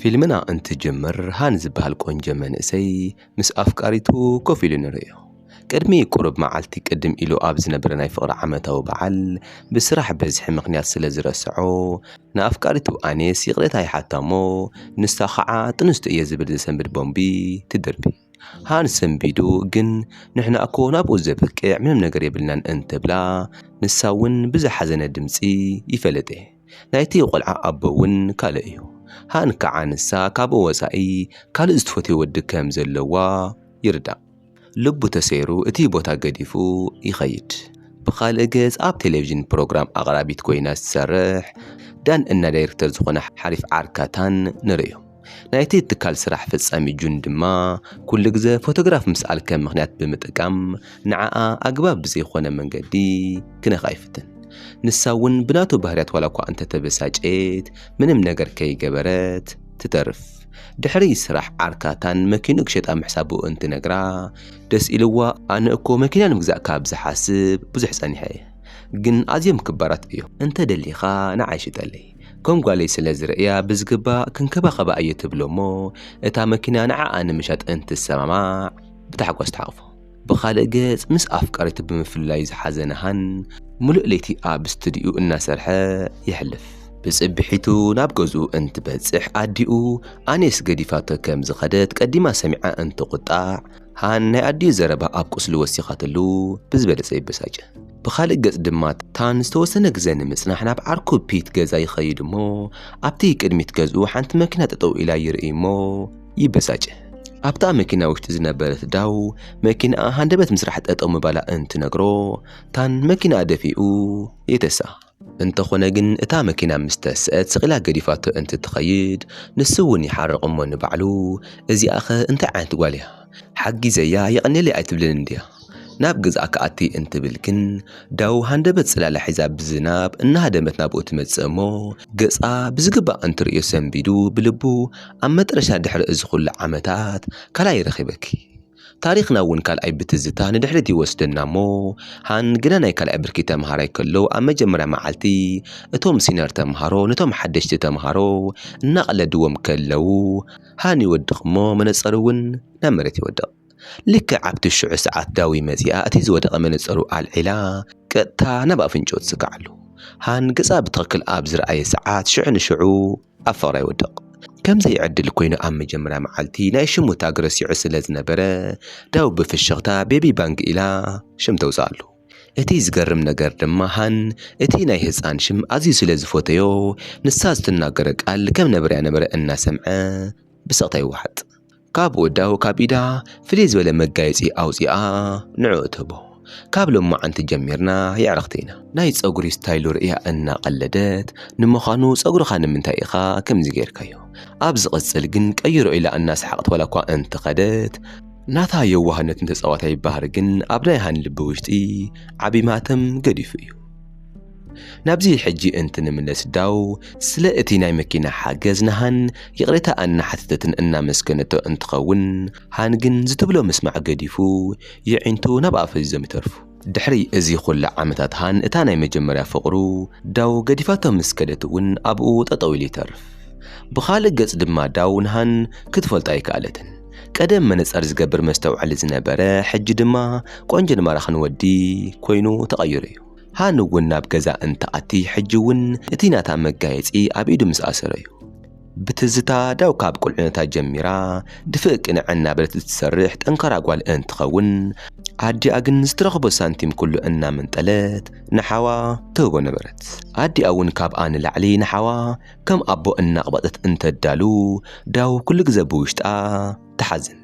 ፊልምና እንትጅምር ሃን ዝበሃል ቆንጆ መንእሰይ ምስ ኣፍቃሪቱ ኮፍ ኢሉ ንርእዮ። ቅድሚ ቁሩብ መዓልቲ ቅድም ኢሉ ኣብ ዝነበረ ናይ ፍቕሪ ዓመታዊ በዓል ብስራሕ በዝሒ ምኽንያት ስለ ዝረሰዖ ንኣፍቃሪቱ ኣኔስ ይቕሬታ ይሓታ'ሞ ንሳ ኸዓ ጥንስቲ እየ ዝብል ዘሰንብድ ቦምቢ ትድርቢ። ሃን ሰንቢዱ ግን ንሕና'ኮ ናብኡ ዘብቅዕ ምንም ነገር የብልናን እንትብላ ንሳ'ውን ብዝሓዘነ ድምጺ ይፈለጥ'የ። ናይቲ ቆልዓ ኣቦ እውን ካልእ እዩ። ሃን ከኣ ንሳ ካብኡ ወጻኢ ካልእ ዝትፈትዮ ወዲ ከም ዘለዋ ይርዳእ። ልቡ ተሰይሩ እቲ ቦታ ገዲፉ ይኸይድ። ብኻልእ ገጽ ኣብ ቴሌቪዥን ፕሮግራም ኣቕራቢት ኮይና ዝትሰርሕ ዳን እና ዳይርክተር ዝኾነ ሓሪፍ ዓርካታን ንርእዮ። ናይቲ ትካል ስራሕ ፈጻሚ ጁን ድማ ኩሉ ግዘ ፎቶግራፍ ምስኣል ከም ምክንያት ብምጥቃም ንዓኣ ኣግባብ ብዘይኮነ መንገዲ ክነካ ይፍትን። ንሳ እውን ብናቱ ባህርያት ዋላ እኳ እንተተበሳጨየት ምንም ነገር ከይገበረት ትተርፍ። ድሕሪ ስራሕ ዓርካ ታን መኪንኡ ክሸጣ ምሕሳቡ እንትነግራ ደስ ኢልዋ ኣነ እኮ መኪና ንምግዛእ ካብ ዝሓስብ ብዙሕ ጸኒሐ እየ ግን ኣዝዮም ክባራት እዮም እንተደሊካ ንዓይ ሽጠለይ ከም ጓለይ ስለ ዝርእያ ብዝግባእ ክንከባኸባ እየ ትብሎ እሞ እታ መኪና ንዓኣ ንምሻጥ እንትሰማማዕ ብታሕጓስ ትሓቕፎ። ብኻልእ ገፅ ምስ ኣፍቃሪቱ ብምፍላዩ ዝሓዘነ ሃን ምሉእ ለይቲ ኣብ ስቱዲኡ እናሰርሐ የሕልፍ። ብፅብሒቱ ናብ ገዝኡ እንትበፅሕ ኣዲኡ ኣንየስ ገዲፋቶ ከም ዝኸደት ቀዲማ ሰሚዓ እንትቑጣዕ ሃን ናይ ኣዲኡ ዘረባ ኣብ ቁስሉ ወሲኻትሉ ብዝበለጸ ይበሳጨ። ብኻልእ ገጽ ድማ ታን ዝተወሰነ ግዘ ንምጽናሕ ናብ ዓርኩ ፒት ገዛ ይኸይድ እሞ ኣብቲ ቅድሚት ገዝኡ ሓንቲ መኪና ጠጠው ኢላ ይርኢ እሞ ይበሳጨ። ኣብታ መኪና ውሽጢ ዝነበረት ዳው መኪናኣ ሃንደበት ምስራሕ ጠጠው ምባላ እንትነግሮ ታን መኪናኣ ደፊኡ የተሳ። እንተኾነ ግን እታ መኪና ምስ ተስእት ስቒላ ገዲፋቶ እንትትኸይድ ንሱ እውን ይሓርቕ እሞ ንባዕሉ እዚኣኸ እንታይ ዓይነት ጓል እያ ሓጊዘያ የቐንየለይ ኣይትብልን እንድያ ናብ ገዝኣ ክኣቲ እንትብል ግን ዳዉ ሃንደበት ጽላላ ሒዛ ብዝናብ እናሃደመት ናብኡ ትመጽእ እሞ ገጻ ብዝግባእ እንትርእዮ ሰንቢዱ ብልቡ ኣብ መጥረሻ ድሕሪ እዚ ኩሉ ዓመታት ካልኣይ ረኺበኪ ታሪኽና እውን ካልኣይ ብትዝታ ንድሕሪት ይወስደና እሞ፣ ሃን ግና ናይ ካልኣይ ብርኪ ተምሃራይ ከሎ ኣብ መጀመርያ መዓልቲ እቶም ሲነር ተምሃሮ ነቶም ሓደሽቲ ተምሃሮ እናቐለድዎም ከለው ሃን ይወድቕ እሞ መነጸሩ እውን ናብ መሬት ይወድቕ። ልክዕ ኣብቲ ሽዑ ሰዓት ዳዊ መጺኣ እቲ ዝወደቐ መነጸሩ ኣልዒላ ቀጥታ ናብ ኣፍንጭኡ ትጽግዓሉ። ሃን ገጻ ብትኽክል ኣብ ዝረኣየ ሰዓት ሽዑ ንሽዑ ኣብ ፍቕራ ይወድቕ። ከም ዘይዕድል ኰይኑ ኣብ መጀመርያ መዓልቲ ናይ ሽሙ ታግ ረሲዑ ስለ ዝነበረ፣ ዳው ብፍሽኽታ ቤቢ ባንግ ኢላ ሽም ተውጽኣሉ። እቲ ዝገርም ነገር ድማ ሃን እቲ ናይ ህጻን ሽም ኣዝዩ ስለ ዝፈተዮ፣ ንሳ ዝትናገሮ ቃል ከም ነበረያ ነበረ እናሰምዐ ብስቕታ ይወሓጥ። ካብ ወዳው ካብ ኢዳ ፍልይ ዝበለ መጋየጺ ኣውጺኣ ንዕኡ ትህቦ። ካብ ሎማዓንቲ ጀሚርና የዕርኽቲ ኢና። ናይ ጸጉሪ ስታይሉ ርእያ እናቐለደት፣ ንምዃኑ ጸጉርኻ ንምንታይ ኢኻ ከምዚ ጌርካዮ? ኣብ ዝቕጽል ግን ቀይሮ ኢላ እናሰሓቐት ዋላኳ እንተኸደት፣ ናታ የዋህነትን ተጻዋታይ ባህሪ ግን ኣብ ናይ ሃኒ ልቢ ውሽጢ ዓቢ ማህተም ገዲፉ እዩ። ናብዚ ሕጂ እንትንምለስ ዳው ስለ እቲ ናይ መኪና ሓገዝ ንሃን ይቕሬታ ኣናሓተተትን እናመስገነቶ እንትኸውን ሃን ግን ዝትብሎ ምስማዕ ገዲፉ የዒንቱ ናብ ኣፉ ሒዞም ይተርፉ። ድሕሪ እዚ ኩሉ ዓመታት ሃን እታ ናይ መጀመርያ ፍቕሩ ዳው ገዲፋቶ ምስ ከደት እውን ኣብኡ ጠጠው ኢሉ ይተርፍ። ብኻልእ ገፅ ድማ ዳው ንሃን ክትፈልጦ ኣይከኣለትን። ቀደም መነፀር ዝገብር መስተውዐሊ ዝነበረ ሕጂ ድማ ቆንጆን ማራኽን ወዲ ኮይኑ ተቐይሩ እዩ። ሃኒ እውን ናብ ገዛ እንትኣቲ ሕጂ እውን እቲ ናታ መጋየጺ ኣብ ኢዱ ምስ ኣሰረ እዩ። ብትዝታ ዳው ካብ ቁልዕነታ ጀሚራ ድፍእ ቅንዕ እናበለት እትሰርሕ ጠንካራ ጓል እንትኸውን፣ ኣዲኣ ግን ዝትረኽቦ ሳንቲም ኩሉ እናመንጠለት ንሓዋ ትህቦ ነበረት። ኣዲኣ እውን ካብኣ ንላዕሊ ንሓዋ ከም ኣቦ እናቕበጸት እንተዳሉ ዳው ኩሉ ግዘ ብውሽጣ ትሓዝን።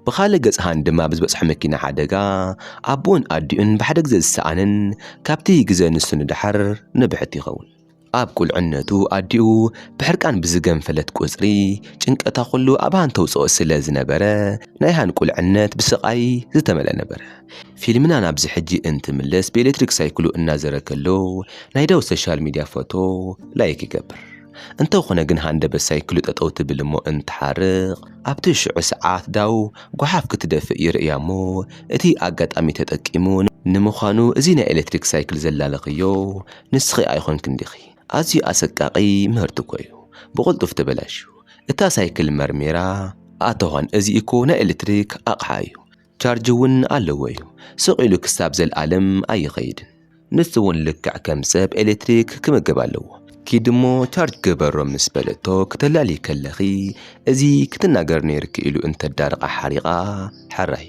ብኻልእ ገጽ ሃን ድማ ብዝበጽሖ መኪና ሓደጋ ኣቦኡን ኣዲኡን ብሓደ ግዘ ዝሰኣነን ካብቲ ግዘ ንሱ ንደሓር ንብሕቲ ይኸውን። ኣብ ቁልዕነቱ ኣዲኡ ብሕርቃን ብዝገንፈለት ቁጽሪ ጭንቀታ ኩሉ ኣብ ሃን ተውጽኦ ስለ ዝነበረ ናይ ሃን ቁልዕነት ብስቓይ ዝተመልአ ነበረ። ፊልምና ናብዚ ሕጂ እንትምለስ ብኤሌክትሪክ ሳይክሉ እናዘረ ከሎ ናይ ዳዊት ሶሻል ሚድያ ፎቶ ላይክ ይገብር። እንተኾነ ግን ሃንደበት ሳይክሉ ጠጠው ትብል እሞ እንትሓርቕ ኣብቲ ሽዑ ሰዓት ዳው ጓሓፍ ክትደፍእ ይርእያ እሞ እቲ ኣጋጣሚ ተጠቂሙ ንምዃኑ እዚ ናይ ኤሌክትሪክ ሳይክል ዘላለኽዮ ንስኺ ኣይኾንክን ዲኺ? ኣዝዩ ኣሰቃቒ ምህርቲ እኮ እዩ ብቕልጡፍ ተበላሽዩ። እታ ሳይክል መርሚራ፣ ኣተዋን እዚ እኮ ናይ ኤሌክትሪክ ኣቕሓ እዩ ቻርጅ እውን ኣለዎ እዩ ስቕ ኢሉ ክሳብ ዘልኣለም ኣይኸይድን። ንሱ እውን ልክዕ ከም ሰብ ኤሌክትሪክ ክምገብ ኣለዎ። ኪድ እሞ ቻርጅ ግበሮ ምስ በለቶ ክተላልዪ ከለኺ እዚ ክትናገሪ ነይርኪ ኢሉ እንተዳርቓ ሓሪቓ ሕራይ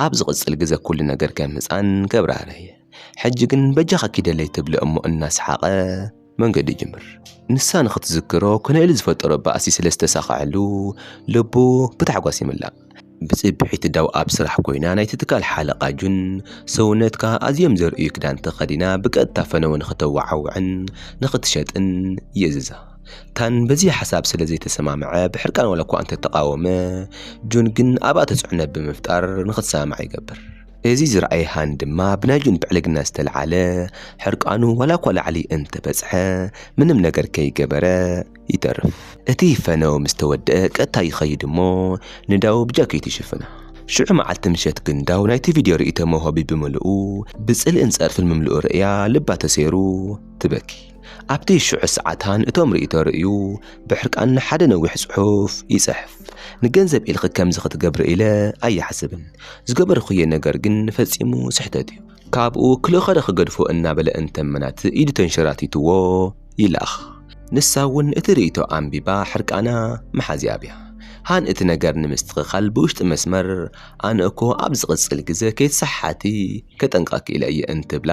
ኣብ ዝቕጽል ግዘ ኩሉ ነገር ከም ህጻን ከብራህርህ እየ ሕጂ ግን በጃኻ ኪደለይ ትብሎ እሞ እናስሓቐ መንገዲ ይጅምር። ንሳ ንኽትዝክሮ ኮነኤል ዝፈጠሮ ባእሲ ስለ ዝተሳኸዐሉ ልቡ ብታሕጓስ ይምላእ። ብጽብሒት ዳው ኣብ ስራሕ ኮይና ናይቲ ትካል ሓለቓ ጁን ሰውነትካ ኣዝዮም ዘርእዩ ክዳን ተኸዲና ብቀጥታ ፈነወ ንኽተወዓውዕን ንኽትሸጥን ይእዝዛ። ታን በዚ ሓሳብ ስለ ዘይተሰማምዐ ብሕርቃን ዋላኳ እንተተቓወመ፣ ጁን ግን ኣብኣ ተጽዕኖ ብምፍጣር ንኽትሰማማዕ ይገብር። እዚ ዝረኣየ ሃን ድማ ብናይ ጁን ብዕልግና ዝተልዓለ ሕርቃኑ ዋላኳ ላዕሊ እንተበጽሐ ምንም ነገር ከይገበረ ይተርፍ። እቲ ፈነው ምስ ተወድኣ ቀጥታ ይኸይድ እሞ ንዳው ብጃኬቱ ይሽፍና። ሽዑ መዓልቲ ምሸት ግን ዳው ናይቲ ቪድዮ ርእይቶ መውሃቢ ብምልኡ ብጽልእን ጸርፍን ምምልኡ ርእያ ልባ ተሰይሩ ትበኪ። ኣብቲ ሽዑ ሰዓታን እቶም ርእይቶ ርእዩ ብሕርቃን ንሓደ ነዊሕ ጽሑፍ ይጽሕፍ ንገንዘብ ኢልኺ ከምዚ ክትገብሪ ኢለ ኣየሓስብን ዝገበርኽዮ ነገር ግን ፈጺሙ ስሕተት እዩ ካብኡ ክልኸደ ክገድፎ እናበለ እንተመናት ኢዱ ተንሸራቲትዎ ይላኽ ንሳ እውን እቲ ርእይቶ ኣንቢባ ሕርቃና መሓዝያ ኣብያ ሃን እቲ ነገር ንምስትኽኻል ብውሽጢ መስመር ኣነ እኮ ኣብ ዝቕጽል ግዘ ከይትሰሓሓቲ ከጠንቀቕኪ ኢለ እየ እንትብላ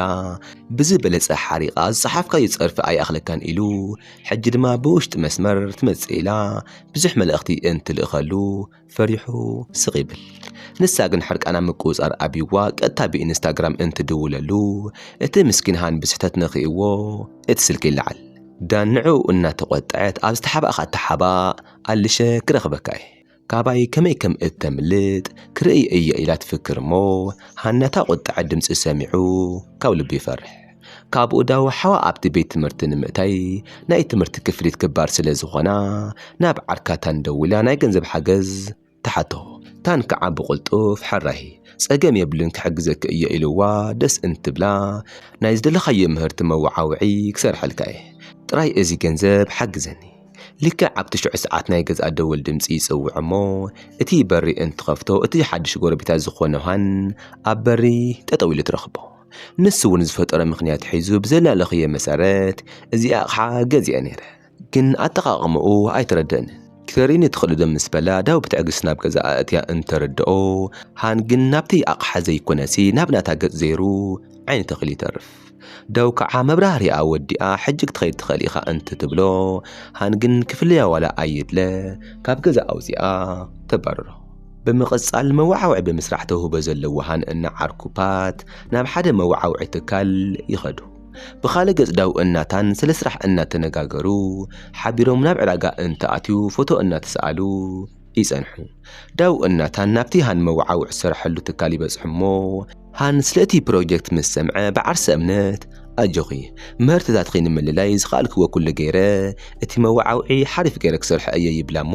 ብዝበለጸ ሓሪቓ ዝጸሓፍካዮ ጸርፊ ኣይኣኽለካን ኢሉ ሕጂ ድማ ብውሽጢ መስመር ትመጽእ ኢላ ብዙሕ መልእኽቲ እንትልእኸሉ ፈሪሑ ስቕ ይብል። ንሳ ግን ሕርቃና ምቁጽጻር ኣብዩዋ ቀጥታ ብኢንስታግራም እንትድውለሉ እቲ ምስኪን ሃን ብስሕተት ነኺእዎ እቲ ስልኪ ይለዓል። ዳን ንዕኡ እናተቖጥዐት ኣብ ዝተሓባእካ ኣተሓባእ ኣልሸ ክረኽበካ እየ። ካባይ ከመይ ከም እተምልጥ ክርእይ እየ ኢላ ትፍክር እሞ፣ ሃናታ ቁጥዐ ድምጺ ሰሚዑ ካብ ልቡ ይፈርሕ። ካብኡ ዳው ሓዋ ኣብቲ ቤት ትምህርቲ ንምእታይ ናይ ትምህርቲ ክፍሊት ክባር ስለ ዝኾና ናብ ዓርካ ታን ደዊላ ናይ ገንዘብ ሓገዝ ትሓቶ። ታን ክዓ ብቁልጡፍ ሕራይ ጸገም የብሉን ክሕግዘኪ እየ ኢልዋ ደስ እንትብላ ናይ ዝደለኻዮ ምህርቲ መወዓውዒ ክሰርሐልካ እየ ጥራይ እዚ ገንዘብ ሓግዘኒ ልክዕ ኣብቲ ሽዑ ሰዓት ናይ ገዝኣ ደወል ድምጺ ይጽውዕ እሞ እቲ በሪ እንትኸፍቶ እቲ ሓድሽ ጎረቤታ ዝኾነ ዮሃን ኣብ በሪ ጠጠው ኢሉ ትረኽቦ። ንሱ እውን ዝፈጠሮ ምክንያት ሒዙ ብዘላለኽዮ መሰረት እዚ ኣቕሓ ገዚኤ ነይረ፣ ግን ኣጠቓቕምኡ ኣይተረደኣንን። ክተርእየኒ ትኽእልዶ ምስ በላ ዳው ብትዕግስቲ ናብ ገዝኣ ኣእትያ እንተረድኦ፣ ሃን ግን ናብቲ ኣቕሓ ዘይኮነሲ ናብ ናታ ገጽ ዘይሩ ዓይኒ ተኺሉ ይተርፍ። ደው ከዓ መብራህሪኣ ወዲኣ ሕጂ ክትኸይድ ትኽእል ኢኻ እንትትብሎ ሃን ግን ክፍለያ ዋላ ኣይድለ ካብ ገዛ ኣውፂኣ ተባርሮ። ብምቕፃል መወዓውዒ ብምስራሕ ተውህቦ ዘለዎ ሃን እና ዓርኩ ፓት ናብ ሓደ መወዓውዒ ትካል ይኸዱ። ብኻልእ ገፅ ዳው እና ታን ስለ ስራሕ እናተነጋገሩ ሓቢሮም ናብ ዕዳጋ እንትኣትዩ ፎቶ እናተሰኣሉ ይጸንሑ። ዳው እናታን ናብቲ ሃን መወዓውዒ ዝሰርሐሉ ትካል ይበጽሑ እሞ፣ ሃን ስለ እቲ ፕሮጀክት ምስ ሰምዐ ብዓርሰ እምነት፣ ኣጆኺ፣ ምህርትታትኺ ንምልላይ ዝኸኣልክዎ ኩሉ ገይረ፣ እቲ መወዓውዒ ሓሪፍ ገይረ ክሰርሖ እየ ይብላ እሞ፣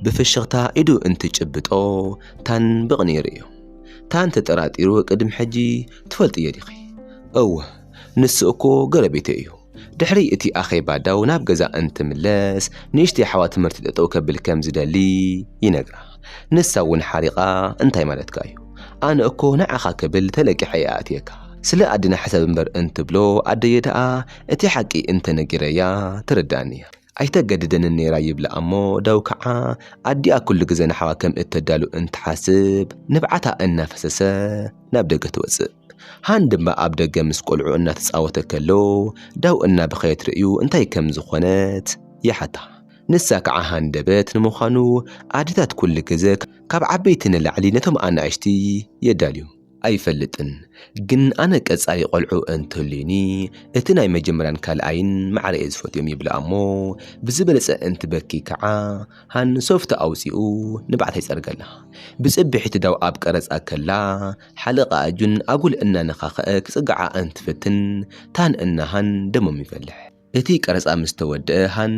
ብፍሽኽታ ኢዱ እንትጭብጦ፣ ታን ብቕንኢ ርእዩ። ታን ተጠራጢሩ ቅድሚ ሕጂ ትፈልጥዮ ዲኺ? እወ። ንሱ እኮ ጎረቤተይ እዩ። ድሕሪ እቲ ኣኼባ ዳው ናብ ገዛ እንትምለስ ንእሽተይ ኣሕዋ ትምህርቲ ጠጠው ከብል ከም ዝደሊ ይነግራ። ንሳ እውን ሓሪቓ እንታይ ማለትካ እዩ? ኣነ እኮ ንዓኻ ክብል ተለቂሐ እየ ኣእትየካ። ስለ ኣደና ሕሰብ እምበር እንትብሎ ኣደየ ደኣ እቲ ሓቂ እንተነጊረያ ትርድኣኒ እያ። ኣይተገድደንን ነይራ ይብላ እሞ ዳው ከዓ ኣዲኣ ኩሉ ግዘ ንሓዋ ከም እተዳሉ እንትሓስብ ንብዓታ እናፈሰሰ ናብ ደገ ትወፅእ። ሃን ድማ ኣብ ደገ ምስ ቆልዑ እናተጻወተ ከሎ ዳው እናበኸየት ርእዩ እንታይ ከም ዝኾነት ይሓታ። ንሳ ከዓ ሃንደበት፣ ንምዃኑ ኣዴታት ኩሉ ግዘ ካብ ዓበይቲ ንላዕሊ ነቶም ኣናእሽቲ የዳልዩ። ኣይፈልጥን ግን ኣነ ቀፃሊ ቆልዑ እንትህልዩኒ እቲ ናይ መጀመርያን ካልኣይን ማዕረ እየ ዝፈትዮም ይብላ እሞ ብዝበለፀ እንትበኪ ከዓ ሃን ሶፍቲ ኣውፂኡ ንብዓታ ይፀርገላ። ብፅብሒት ዳው ኣብ ቀረፃ ከላ ሓለቓኣ ጁን ኣጉል እናነኻኸኣ ክጽግዓ እንትፍትን ታን እና ሃን ደሞም ይፈልሕ። እቲ ቀረጻ ምስ ተወድኣ ሃን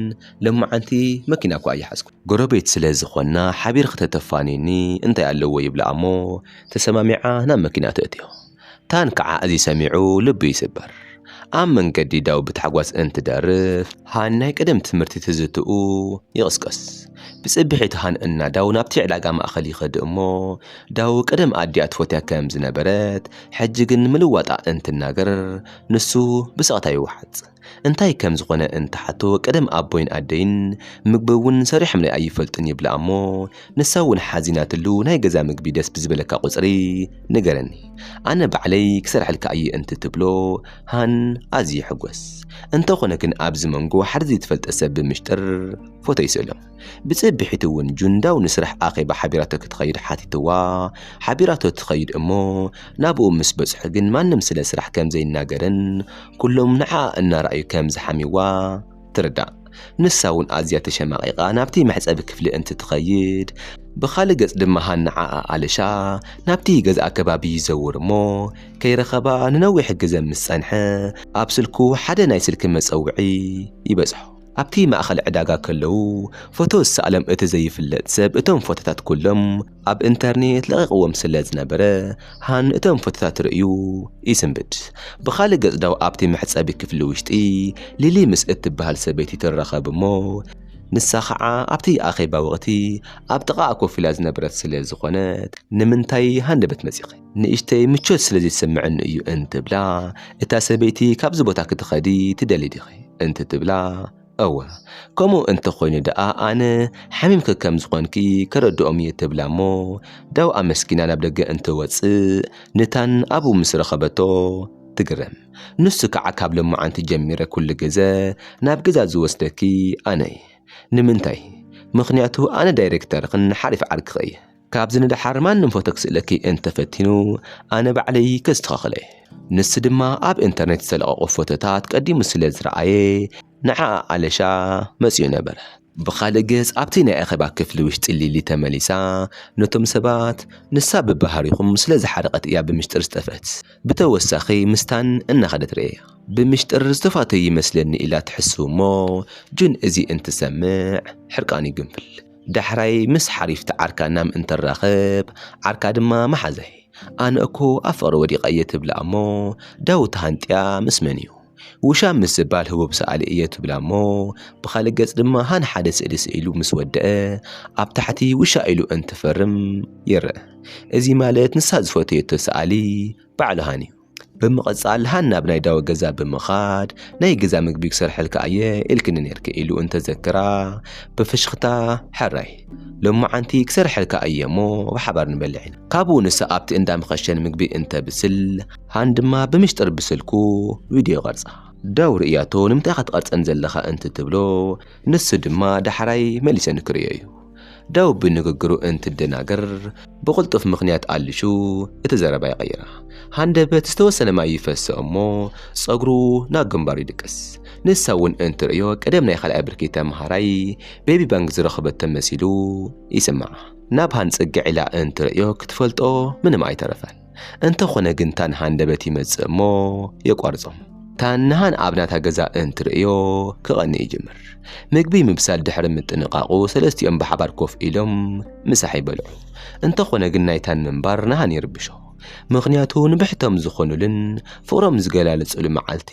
ሎማዓንቲ መኪና'ኳ ኣይሓዝኩን። ጎረቤት ስለ ዝኾንና ሓቢርኺ ተተፋንይኒ እንታይ ኣለዎ ይብላ እሞ ተሰማሚዓ ናብ መኪና ተእትዮ። ታን ክዓ እዚ ሰሚዑ ልቡ ይስበር። ኣብ መንገዲ ዳው ብታሕጓስ እንትደርፍ ሃን ናይ ቀደም ትምህርቲ ትዝትኡ ይቕስቀስ። ብጽብሒት ሃን እና ዳው ናብቲ ዕዳጋ ማእኸል ይኸድ እሞ ዳው ቀደም ኣዲኣ ትፎትያ ከም ዝነበረት ሕጂ ግን ምልዋጣ እንትናገር ንሱ ብሰቕታ ይውሓጥ። እንታይ ከም ዝኾነ እንትሓቶ ቀደም ኣቦይን ኣደይን ምግቢ እውን ሰሪሖምለይ ኣይፈልጡን ይብላ እሞ ንሳ እውን ሓዚናትሉ ናይ ገዛ ምግቢ ደስ ብዝበለካ ቁፅሪ ንገረኒ ኣነ ባዕለይ ክሰርሐልካ እየ እንትትብሎ ሃን ኣዝዩ ይሕጎስ። እንተኾነ ግን ኣብዚ መንጎ ሓደ ዘይትፈልጠ ሰብ ብምሽጥር ፎቶ ይስእሎም። ብፅብሒት እውን ጁንዳው ንስራሕ ኣኼባ ሓቢራቶ ክትኸይድ ሓቲትዋ ሓቢራቶ ትኸይድ እሞ ናብኡ ምስ በፅሑ ግን ማንም ስለ ስራሕ ከም ዘይናገርን ኩሎም ንዓኣ እናረኣዩ ከም ዝሓምይዋ ትርዳእ። ንሳ እውን ኣዝያ ተሸማቒቓ ናብቲ መሕጸቢ ክፍሊ እንትትኸይድ፣ ብኻልእ ገጽ ድማ ሃናዓኣ ኣለሻ ናብቲ ገዛኣ ከባቢ ይዘውር እሞ ከይረኸባ ንነዊሕ ግዘ ምስ ጸንሐ፣ ኣብ ስልኩ ሓደ ናይ ስልኪ መጸውዒ ይበጽሖ። ኣብቲ ማእከል ዕዳጋ ከለዉ ፎቶ ዝሰኣሎም እቲ ዘይፍለጥ ሰብ እቶም ፎቶታት ኩሎም። ኣብ ኢንተርኔት ለቒቕዎም ስለ ዝነበረ ሃን እቶም ፎቶታት ርእዩ ይስንብድ። ብኻልእ ገጽ ዳው ኣብቲ መሕጸቢ ክፍሊ ውሽጢ ሊሊ ምስ እትበሃል ሰበይቲ ትራኸብ እሞ ንሳ ኸዓ ኣብቲ ኣኼባ ወቕቲ ኣብ ጥቓኣ ኮፍ ኢላ ዝነበረት ስለ ዝኾነት ንምንታይ ሃንደበት መጺኺ? ንእሽተይ ምቾት ስለ ዘይትሰምዐኒ እዩ እንትብላ እታ ሰበይቲ ካብዚ ቦታ ክትኸዲ ትደልዪ ዲኺ? እንትትብላ እወ ከምኡ እንተ ኾይኑ ደኣ ኣነ ሓሚምኪ ከም ዝኾንኪ ከረድኦም እየ ትብላ እሞ ዳው ኣመስጊና ናብ ደገ እንትወጽእ ንታን ኣብኡ ምስ ረኸበቶ ትግረም። ንሱ ከዓ ካብ ሎማዓንቲ ጀሚረ ኩሉ ግዘ ናብ ገዛ ዝወስደኪ ኣነ እየ። ንምንታይ? ምኽንያቱ ኣነ ዳይሬክተርኽን ሓሪፍ ዓርክኺ እየ። ካብዚ ንደሓር ማንም ፎቶ ክስእለኪ እንተፈቲኑ ኣነ ባዕለይ ከስተኻኽለ። ንሱ ድማ ኣብ ኢንተርኔት ዝተለቐቑ ፎቶታት ቀዲሙ ስለ ዝረኣየ ንዓኣ ኣለሻ መጺኡ ነበረ። ብኻልእ ገጽ ኣብቲ ናይ ኣኼባ ክፍሊ ውሽጢ ሊሊ ተመሊሳ ነቶም ሰባት ንሳ ብባህሪኹም ስለ ዝሓረቐት እያ ብምሽጥር ዝጠፍአት። ብተወሳኺ ምስታን እናኸደት ርእየያ። ብምሽጥር ዝተፋተዩ ይመስለኒ ኢላ ትሕስብ'ሞ ጁን እዚ እንትሰምዕ ሕርቃኑ ይግንፍል። ዳሕራይ ምስ ሓሪፍቲ ዓርካ ናም እንትራኸብ ዓርካ ድማ መሓዘይ ኣነ እኮ ኣብ ፍቕሪ ወዲቐ እየ ትብላ እሞ ዳዊት ተሃንጥያ ምስ መን እዩ ውሻም ምስ ዝባል ህቡብ ሰኣሊ እየ ትብላ እሞ ብኻልእ ገጽ ድማ ሃን ሓደ ስእሊ ስኢሉ ምስ ወደአ ኣብ ታሕቲ ውሻ ኢሉ እንትፈርም ይረእ እዚ ማለት ንሳ ዝፈተየቶ ሰኣሊ ባዕሉ ሃን እዩ። ብምቕጻል ሃና ናብ ናይ ዳዊ ገዛ ብምኻድ ናይ ገዛ ምግቢ ክሰርሐልካ እየ ኢልክኒ ነርኪ ኢሉ እንተዘክራ ብፍሽኽታ ሕራይ ሎማዓንቲ ክሰርሐልካ እየ እሞ ብሓባር ንበልዕ ኢና ካብኡ ንሳ ኣብቲ እንዳ መኸሸን ምግቢ እንተብስል ሃን ድማ ብምሽጥር ብስልኩ ቪድዮ ይቐርጻ ዳው ርእያቶ ንምንታይ ኢኻ ትቐርጸን ዘለኻ እንትትብሎ ንሱ ድማ ዳሕራይ መሊሰ ንክርእዮ እዩ ዳዊት ብንግግሩ እንትደናገር ብቕልጡፍ ምኽንያት ኣልሹ እቲ ዘረባ ይቐይራ። ሃንደበት ዝተወሰነ ማይ ይፈሰ እሞ ጸጉሩ ናብ ግንባሩ ይድቅስ። ንሳ እውን እንትርእዮ ቀደም ናይ ካልኣይ ብርኪ ተምሃራይ ቤቢ ባንክ ዝረኸበቶ መሲሉ ይስምዓ። ናብሃን ጽግዕ ኢላ እንትርእዮ ክትፈልጦ ምንም ኣይተረፈን። እንተኾነ ግን ታን ሃንደበት ይመጽእ እሞ የቋርጾም። ታን ንሃን ኣብ ናታ ገዛ እንትርእዮ ክቐንእ ይጅምር። ምግቢ ምብሳል ድሕሪ ምጥንቓቑ ሰለስቲኦም ብሓባር ኮፍ ኢሎም ምሳሕ ይበልዑ። እንተኾነ ግን ናይ ታን ምንባር ንሃን ይርብሾ። ምኽንያቱ ንብሕቶም ዝኾኑልን ፍቕሮም ዝገላለጽሉ መዓልቲ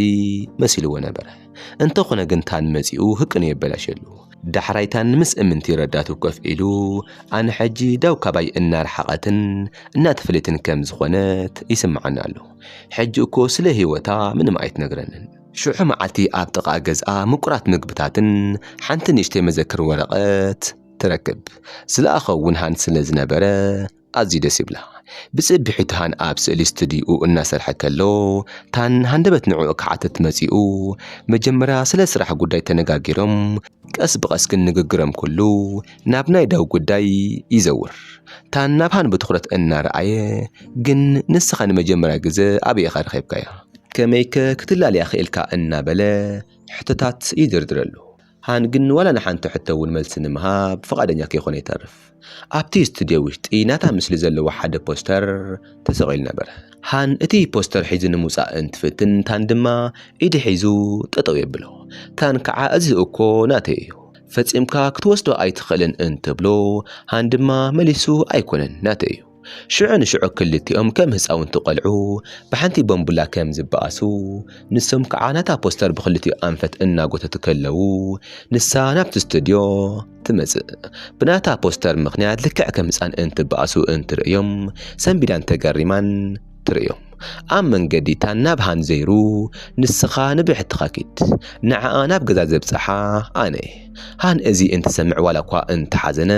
መሲልዎ ነበረ። እንተኾነ ግን ታን መጺኡ ህቅኑ የበላሸሉ። ዳሕራይታ ንምስ እምንቲ ረዳቱ ኮፍ ኢሉ፣ ኣነ ሕጂ ዳው ካባይ እናረሓቐትን እናተፈለየትን ከም ዝኾነት ይስምዓኒ ኣሎ። ሕጂ እኮ ስለ ህይወታ ምንም ኣይትነግረንን። ሽዑ መዓልቲ ኣብ ጥቓ ገዝኣ ምቁራት ምግብታትን ሓንቲ ንእሽተይ መዘክር ወረቐት ትረክብ። ዝለኣኾ ውንሃን ስለ ዝነበረ ኣዝዩ ደስ ይብላ ብጽብሒ ታሃን ኣብ ስእሊ ስትድዩኡ እናሰርሐ ከሎ ታን ሃንደበት ንዕኡ ክሓትት መጺኡ መጀመርያ ስለ ስራሕ ጉዳይ ተነጋጊሮም ቀስ ብቀስ ግን ንግግሮም ኩሉ ናብ ናይ ዳው ጉዳይ ይዘውር ታን ናብ ሃን ብትኹረት እናረኣየ ግን ንስኻ ንመጀመርያ ግዘ ኣበይ ኢኻ ረኺብካያ ከመይከ ክትላለያ ክኢልካ እናበለ ሕቶታት ይድርድረሉ። ሃን ግን ንዋላ ንሓንቲ ሕቶ እውን መልሲ ንምሃብ ፍቓደኛ ከይኮነ ይተርፍ። ኣብቲ ስቱድዮ ውሽጢ ናታ ምስሊ ዘለዎ ሓደ ፖስተር ተሰቒሉ ነበረ። ሃን እቲ ፖስተር ሒዙ ንምውጻእ እንትፍትን ታን ድማ ኢዱ ሒዙ ጠጠው የብሎ። ታን ከዓ እዚ እኮ ናተይ እዩ ፈጺምካ ክትወስዶ ኣይትኽእልን እንትብሎ ሃን ድማ መሊሱ ኣይኮነን ናተይ እዩ። ሽዑ ንሽዑ ክልቲኦም ከም ህጻውንቲ ቆልዑ ብሓንቲ ቦምቡላ ከም ዝበኣሱ፣ ንሶም ክዓ ነታ ፖስተር ብክልቲኡ ኣንፈት እናጎተቱ ከለዉ ንሳ ናብቲ ስቱድዮ ትመጽእ። ብናታ ፖስተር ምኽንያት ልክዕ ከም ህጻን እንትበኣሱ እንትርእዮም ሰንቢዳን ተገሪማን ትርእዮም። ኣብ መንገዲ ታን ናብ ሃን ዘይሩ ንስኻ ንብሕትኻ ኪድ፣ ንዓኣ ናብ ገዛ ዘብጽሓ ኣነ። ሃን እዚ እንትሰምዕ ዋላኳ እንተሓዘነ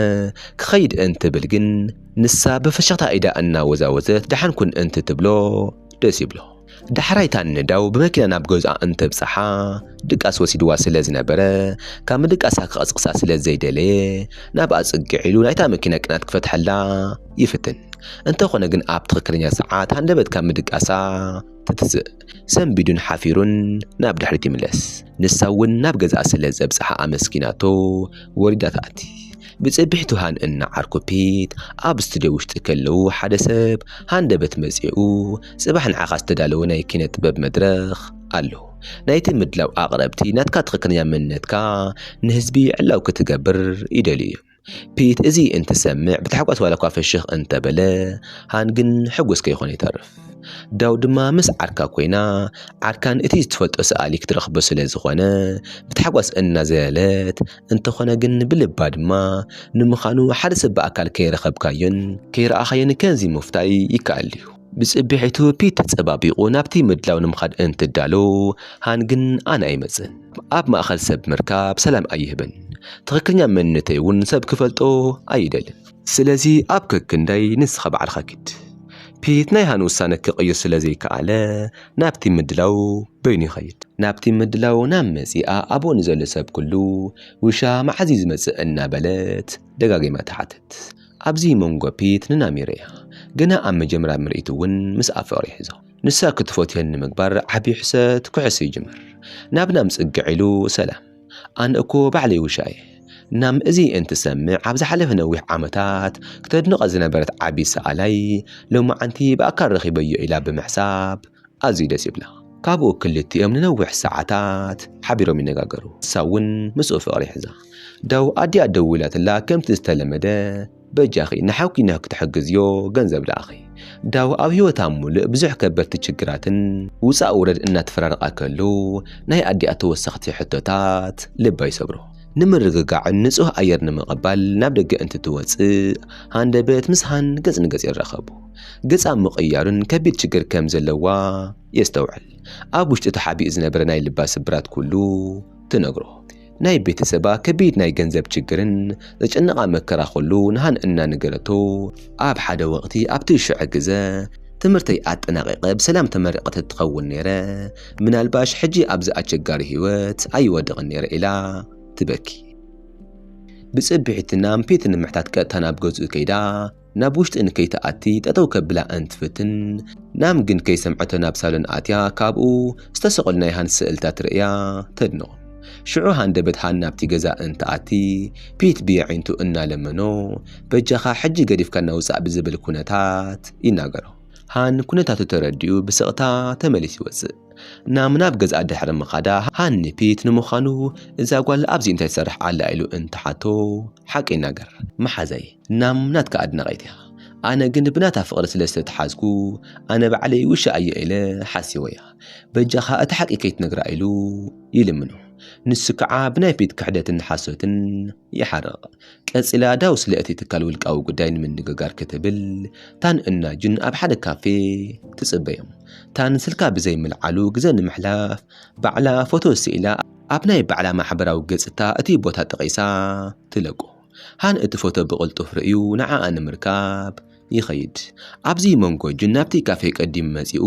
ክኸይድ እንትብል ግን ንሳ ብፍሽኽታ ኢዳ እናወዛወዘት ደሓን ኩን እንትትብሎ ደስ ይብሎ። ዳሕራይ እታ ንነዳው ብመኪና ናብ ገዝኣ እንተብጽሓ ድቃስ ወሲድዋ ስለ ዝነበረ ካብ ምድቃሳ ክቐስቕሳ ስለ ዘይደለየ ናብኣ ጽግዕ ኢሉ ናይታ መኪና ቅናት ክፈትሐላ ይፍትን። እንተኾነ ግን ኣብ ትኽክለኛ ሰዓት ሃንደበት ካብ ምድቃሳ ትትስእ። ሰንቢዱን ሓፊሩን ናብ ድሕሪት ይምለስ። ንሳ እውን ናብ ገዛኣ ስለ ዘብጽሓ ኣመስጊናቶ ወሪዳ ትኣቲ። ብጽብሒቱ ሃንእን ንዓርኩፒት ኣብ ስቱድዮ ውሽጢ ከለዉ ሓደ ሰብ ሃንደበት መጺኡ ጽባሕ ንዓኻ ዝተዳለወ ናይ ኪነ ጥበብ መድረኽ ኣሎ ናይቲ ምድላው ኣቕረብቲ ናትካ ትኽክለኛ መንነትካ ንህዝቢ ዕላው ክትገብር ይደልዩ እዮም። ፒት እዚ እንትሰምዕ ብታሕጓስ ዋላኳ ፍሽኽ እንተበለ ሃን ግን ሕጉስ ከይኾነ ይተርፍ። ዳው ድማ ምስ ዓርካ ኮይና ዓርካን እቲ ዝትፈልጦ ሰኣሊ ክትረኽቦ ስለ ዝኾነ ብታሕጓስ እናዘለለት እንተኾነ ግን ብልባ ድማ ንምዃኑ ሓደ ሰብ ብኣካል ከይረኸብካዮን ከይረኣኻዮን ከምዚ ምፍታይ ይከኣል እዩ። ብጽብሒቱ ፒት ተጸባቢቑ ናብቲ ምድላው ንምኻድ እንትዳሎ ሃን ግን ኣነ ኣይመጽን ኣብ ማእኸል ሰብ ምርካብ ሰላም ኣይህብን ትኽክለኛ መንነተይ እውን ሰብ ክፈልጦ ኣይደልን ስለዚ ኣብ ከክንዳይ ንስኻ ባዕልኻ ኪድ ፒት ናይ ሃን ውሳነ ክቕይር ስለ ዘይከኣለ ናብቲ ምድላው በይኑ ይኸይድ ናብቲ ምድላው ናብ መጺኣ ኣብኡ ንዘሎ ሰብ ኩሉ ውሻ መዓዝ እዩ ዝመጽእ እናበለት ደጋጊማ ትሓትት ኣብዚ መንጎ ፒት ንናሚር እያ። ገና ኣብ መጀምርያ ምርኢት እውን ምስኣ ፍቕሪ ይሕዞ። ንሳ ክትፎትየኒ ምግባር ዓቢ ሕሰት ክሕሱ ይጅምር። ናብ ናም ጽግዕ ኢሉ ሰላም። ኣነ እኮ ባዕለይ ውሻ እየ። ናም እዚ እንትሰምዕ ኣብ ዝሓለፈ ነዊሕ ዓመታት ክተድንቐ ዝነበረት ዓቢ ሰኣላይ ሎምዓንቲ ብኣካል ረኺበዮ ኢላ ብምሕሳብ ኣዝዩ ደስ ይብላ። ካብኡ ክልቲኦም ንነዊሕ ሰዓታት ሓቢሮም ይነጋገሩ። ንሳ እውን ምስኡ ፍቕሪ ሒዛ። ዳዉ ኣዲኣ ደዊላትላ ከምቲ ዝተለመደ በጃኺ ንሓውኪ ንክትሕግዝዮ ገንዘብ ልኣኺ። ዳዉ ኣብ ህይወታ ሙሉእ ብዙሕ ከበድቲ ችግራትን ውፃእ ውረድ እናተፈራረቓ ከለዉ ናይ ኣዲኣ ተወሰኽቲ ሕቶታት ልባ ይሰብሮ። ንምርግጋዕን ንፁህ ኣየር ንምቕባል ናብ ደገ እንትትወፅእ ሃንደበት ምስ ሃን ገፅ ንገፅ ይራኸቡ። ገጻ ኣብ ምቕያሩን ከቢድ ችግር ከም ዘለዋ የስተውዕል። ኣብ ውሽጡ ተሓቢኡ ዝነበረ ናይ ልባ ስብራት ኩሉ ትነግሮ። ናይ ቤተሰባ ከቢድ ናይ ገንዘብ ችግርን ዘጨነቓ መከራ ኩሉ ንሃን እናነገረቶ፣ ኣብ ሓደ ወቕቲ ኣብቲ ሽዐ ግዘ ትምህርተይ ኣጠናቒቐ ብሰላም ተመሪቐ ተትኸውን ነይረ፣ ምናልባሽ ሕጂ ኣብዚ ኣቸጋሪ ህይወት ኣይወድቕን ነይረ ኢላ ትበኪ። ብጽብሒትናም ፒት ንምሕታት ቀጥታ ናብ ገዝኡ ከይዳ፣ ናብ ውሽጢ እንከይትኣቲ ጠጠው ከብላ እንትፍትን፣ ናም ግን ከይሰምዐቶ ናብ ሳሎን ኣትያ ካብኡ ዝተሰቐሉ ናይ ሃንስ ስእልታት ርእያ ተድንቖም። ሽዑ ሃንደበት ሃን ናብቲ ገዛ እንትኣቲ ፒት ብየዒንቱ እናለመኖ በጃኻ ሕጂ ገዲፍካና ውጻእ ብዝብል ኩነታት ይናገሮ። ሃን ኩነታቱ ተረዲኡ ብስቕታ ተመሊሱ ይወጽእ። ናም ናብ ገዝኣ ድሕሪ ምኻዳ ሃን ንፒት ንምዃኑ እዛ ጓል ኣብዚ እንታይ ትሰርሕ ኣላ ኢሉ እንትሓቶ ሓቂ ይናገር። መሓዛይ ናም ናትካ ኣድናቒት እያ ኣነ ግን ብናታ ፍቕሪ ስለ ዝተትሓዝኩ ኣነ ባዕለይ ውሻ እየ ኢለ ሓሲወያ በጃኻ እቲ ሓቂ ከይትነግራ ኢሉ ይልምኖ ንሱ ከዓ ብናይ ፊት ክሕደትን ሓሶትን ይሓርቕ ቀጺላ ዳው ስለ እቲ ትካል ውልቃዊ ጉዳይ ንምንግጋር ክትብል ታን እና ጁን ኣብ ሓደ ካፌ ትጽበዮም ታን ስልካ ብዘይ ምልዓሉ ግዘ ንምሕላፍ ባዕላ ፎቶ ስኢላ ኣብ ናይ ባዕላ ማሕበራዊ ገጽታ እቲ ቦታ ጠቒሳ ትለቁ ሃን እቲ ፎቶ ብቕልጡፍ ርእዩ ንዓኣ ንምርካብ ይኸይድ። ኣብዚ መንጎ ጁን ናብቲ ካፌ ቀዲሙ መጺኡ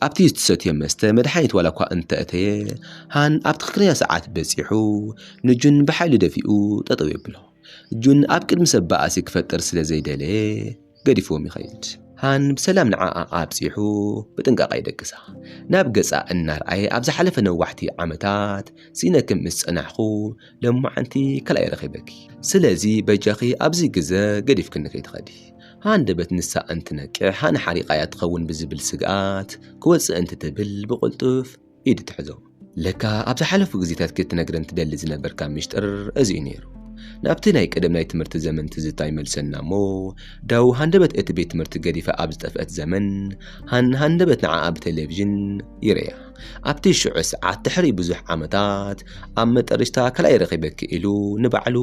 ኣብቲ ዝትሰትዮ መስተ መድሓኒት ዋላኳ እንተእተየ ሃን ኣብ ትኽክለኛ ሰዓት በጺሑ ንጁን ብሓይሊ ደፊኡ ጠጠው የብሎ። ጁን ኣብ ቅድሚ ሰብ ባእሲ ክፈጥር ስለዘይደለየ፣ ገዲፍዎም ይኸይድ። ሃን ብሰላም ንዓኣ ኣብጺሑ ብጥንቃቐ ይደቅሳ። ናብ ገጻ እናርኣየ ኣብ ዝሓለፈ ነዋሕቲ ዓመታት ሲኢነኪ ምስ ጸናሕኩ ሎምዓንቲ ካልኣይ ረኺበኪ። ስለዚ በጃኺ ኣብዚ ግዘ ገዲፍክኒ ከይትኸዲ። ሃንደበት ንሳ እንትነቅሕ ሃን ሓሪቓያ ትኸውን ብዝብል ስግኣት ክወጽእ እንትትብል ብቕልጡፍ። ኢድ ትሕዞ። ለካ ኣብ ዝሓለፉ ግዜታት ክትነግረን ትደሊ ዝነበርካ ሚስጥር እዚ እዩ ነይሩ። ናብቲ ናይ ቀደም ናይ ትምህርቲ ዘመን ትዝታ ይመልሰና እሞ፣ ዳዉ ሃንደበት እቲ ቤት ትምህርቲ ገዲፋ ኣብ ዝጠፍአት ዘመን፣ ሃን ሃንደበት ንዓኣ ብቴሌቭዥን ይርእያ። ኣብቲ ሽዑ ሰዓት ድሕሪ ብዙሕ ዓመታት ኣብ መጠርሽታ ካልኣይ ረኺበኪ ኢሉ ንባዕሉ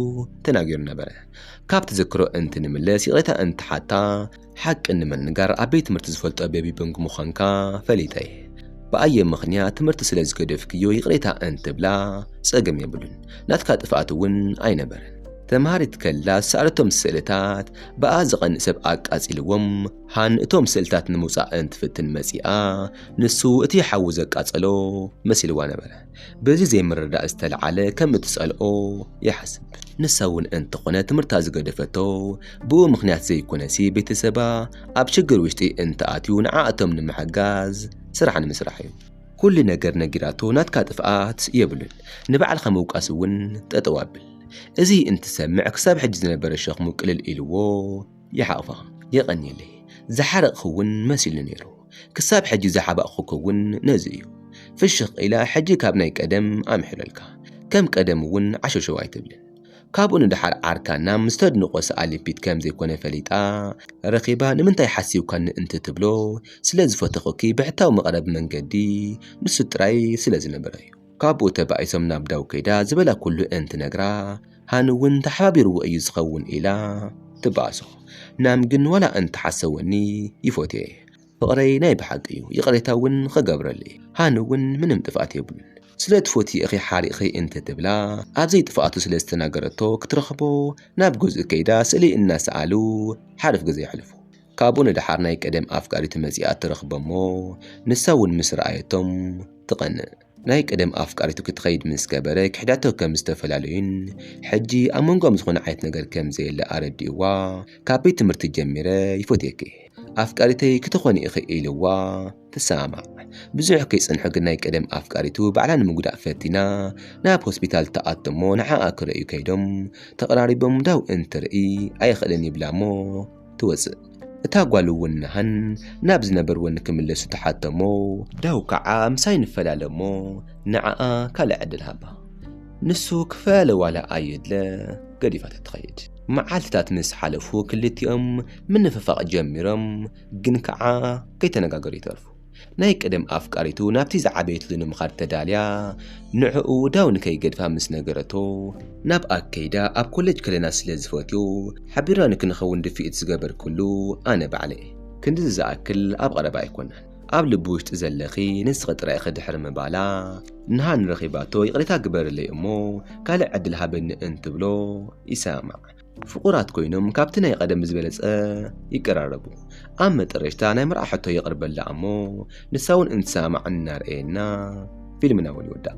ተናጊሩ ነበረ። ካብ ትዝክሮ እንትንምለስ ይቕሬታ እንትሓታ፣ ሓቂ ንምንጋር ኣብ ቤት ትምህርቲ ዝፈልጦ ቤቢ ቦንግ ምዃንካ ፈሊጠ እየ። ብኣየ ምኽንያት ትምህርቲ ስለ ዝገደፍክዮ ይቕሬታ እንትብላ ጸገም የብሉን፣ ናትካ ጥፍኣት እውን ኣይነበረን። ተምሃሪት ከላ ዝሰኣለቶም ስእልታት ብኣ ዝቐንእ ሰብ ኣቃጺልዎም፣ ሃን እቶም ስእልታት ንምውጻእ እንትፍትን መጺኣ፣ ንሱ እቲ ሓዊ ዘቃጸሎ መሲልዋ ነበረ። በዚ ዘይምርዳእ ዝተልዓለ ከም እትጸልኦ ይሓስብ ንሳ እውን እንተኾነ ትምህርታ ዝገደፈቶ ብኡ ምክንያት ዘይኮነሲ ቤተሰባ ኣብ ሽግር ውሽጢ እንተኣትዩ ንዓእቶም ንምሕጋዝ ስራሕ ንምስራሕ እዩ ኩሉ ነገር ነጊራቶ ናትካ ጥፍኣት የብሉን ንባዕልካ ምውቃስ እውን ጠጠው ኣብል እዚ እንትሰምዕ ክሳብ ሕጂ ዝነበረ ሸኽሙ ቅልል ኢልዎ ይሓቕፋ የቐንየለይ ዝሓረቕኺ ውን መሲሉ ነይሩ ክሳብ ሕጂ ዝሓባእኹኪ ውን ነዚ እዩ ፍሽኽ ኢላ ሕጂ ካብ ናይ ቀደም ኣምሕለልካ ከም ቀደም ውን ዓሸሸው ኣይትብልን ካብኡ ንደሓር ዓርካ ናም ዝተድንቖ ሰኣሊ ፒት ከም ዘይኮነ ፈሊጣ ረኺባ ንምንታይ ሓሲብካኒ እንትትብሎ ስለ ዝፈተኹኪ ብሕታዊ መቕረቢ መንገዲ ንሱ ጥራይ ስለ ዝነበረ እዩ ካብኡ ተባኢሶም ናብ ዳው ከይዳ ዝበላ ኩሉ እንትነግራ ሃኒ እውን ተሓባቢርዎ እዩ ዝኸውን ኢላ ትባኣሶ። ናም ግን ዋላ እንተሓሰወኒ ይፎትዬ ፍቕረይ ናይ ብሓቂ እዩ ይቕሬታ እውን ኽገብረልይ ሃኒ እውን ምንም ጥፍኣት የብሉን ስለ ትፎትዪ እኺ ሓሪቕኺ እንትትብላ ኣብ ዘይጥፍኣቱ ስለ ዝተናገረቶ ክትረኽቦ ናብ ገዝኡ ከይዳ ስእሊ እናሰኣሉ ሓርፍ ግዘ የሕልፉ። ካብኡ ንደሓር ናይ ቀደም ኣፍቃሪቱ መጺኣ ትረኽቦ'ሞ ንሳ'ውን ምስ ረኣየቶም ትቐንእ። ናይ ቀደም ኣፍቃሪቱ ክትኸይድ ምስ ገበረ ክሕዳቶ ከም ዝተፈላለዩን ሕጂ ኣብ መንጎኦም ዝኾነ ዓይነት ነገር ከም ዘየለ ኣረዲኡዋ ካብ ቤት ትምህርቲ ጀሚረ ይፎትየኪ ኣፍቃሪተይ ክትኾኒ ኢኺ ኢሉዋ ትሰማማዕ። ብዙሕ ከይጸንሑ ግን ናይ ቀደም ኣፍቃሪቱ ባዕላ ንምጉዳእ ፈቲና ናብ ሆስፒታል ትኣቱ'ሞ ንዓኣ ክርእዩ ከይዶም ተቐራሪቦም ዳው እንትርኢ ኣይኽእልን ይብላ'ሞ ትወጽእ። እታ ጓል እውን ንሃን ናብ ዝነበርዎ ንክምለሱ ትሓቶ እሞ፣ ዳው ከኣ ምሳይ ንፈላለ እሞ ንዓኣ ካልእ ዕድል ሃባ ንሱ ክፈላለ ዋላ ኣይድለ ገዲፋታ ትኸይድ። መዓልትታት ምስ ሓለፉ ክልቲኦም ምንፍፋቕ ጀሚሮም ግን ከኣ ከይተነጋገሩ ይተርፉ። ናይ ቀደም ኣፍቃሪቱ ናብቲ ዝዓበየትሉ ንምኻድ ተዳልያ ንዕኡ ዳው ንከይገድፋ ምስ ነገረቶ፣ ናብ ኣክ ከይዳ ኣብ ኮለጅ ከለና ስለ ዝፈትዮ ሓቢርና ንክንኸውን ድፍኢት ዝገበርክሉ ኣነ ባዕለይ'የ። ክንድዚ ዝኣክል ኣብ ቐረባ ኣይኮናን ኣብ ልቢ ውሽጢ ዘለኺ ንስኺ ጥራይ ኢኺ ድሕሪ ምባላ ንሃኒ ረኺባቶ ይቕሬታ ግበርለይ እሞ ካልእ ዕድል ሃበኒ እንትብሎ ይሰማማዕ። ፍቑራት ኮይኖም ካብቲ ናይ ቐደም ብዝበለጸ ይቀራረቡ። ኣብ መጠረሽታ ናይ መርዓ ሕቶ የቕርበላ ኣሞ ንሳ ውን እንትሰማማዕ እናርኣየና ፊልምና ውን ይውዳእ።